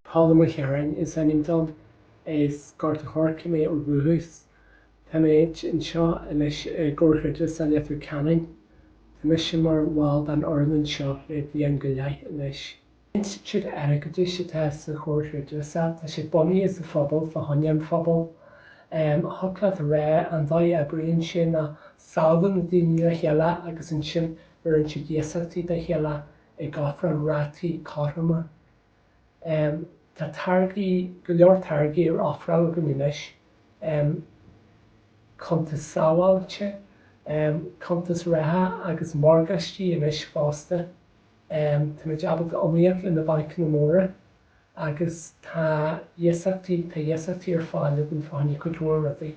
Paula McCarron is ainm dom, as Gort a' Choirce mé ó dhúchas. Tá mé anseo anois i gComhar Creidmheasa Leitir Ceanainn. Tá mise mar bhall den fhoireann anseo le bliain go leith anois. Institiúid Airgeadais atá sa Chomhar Creidmheasa, tá sé bunaithe sa phobal, fá choinne an phobail. Thiocfadh leat a rá, an dóigh a oibríonn sé ná sábhálann na daoine le chéile agus ansin beireann siad iasachtaí dá chéile ag ofráil rátaí cothroma. Tá táirgí, go leor táirgí ar ofráil againn anois, cuntais sábháilte, cuntais reatha agus morgáistí anois fosta. Tá muid ábalta iomaíocht le na bancanna móra agus tá iasachtaí, tá iasachtaí ar fáil againn fá choinne cuid mhór rudaí.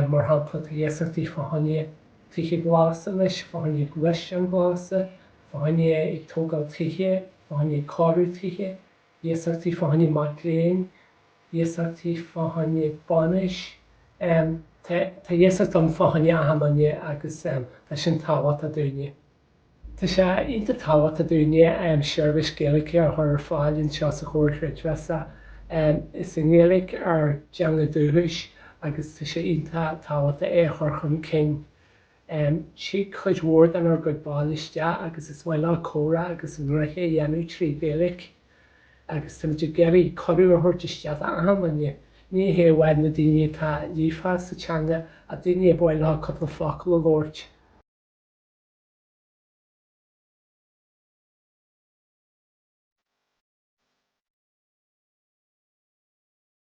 Mar shampla, tá iasachtaí fá choinne tithe glasa anois, fá choinne gluaisteáin glasa, fá choinne ag tógáil tithe, fá choinne cóiriú tithe, iasachtaí fá choinne mac léinn, iasachtaí fá choinne bainis. Tá iasacht ann fá choinne achan nduine agus tá sin tábhachtach dúinne. Tá sé iontach tábhachtach dúinne seirbhís Gaeilge a chur ar fáil anseo sa Chomhar Creidmheasa. Is í an Ghaeilge ár dteanga dúchais agus tá sé iontach tábhachtach í a chur chun cinn. Thig cuid mhór denár gcuid baill isteach agus is maith leo comhrá agus a ngnoithe a dhéanamh trí Ghaeilge. Agus tá muid ag iarraidh cuireadh a thabhairt isteach d'achan nduine, ní hé amháin na daoine atá líofa sa teanga ach daoine ar mhaith leo cúpla focal a labhairt.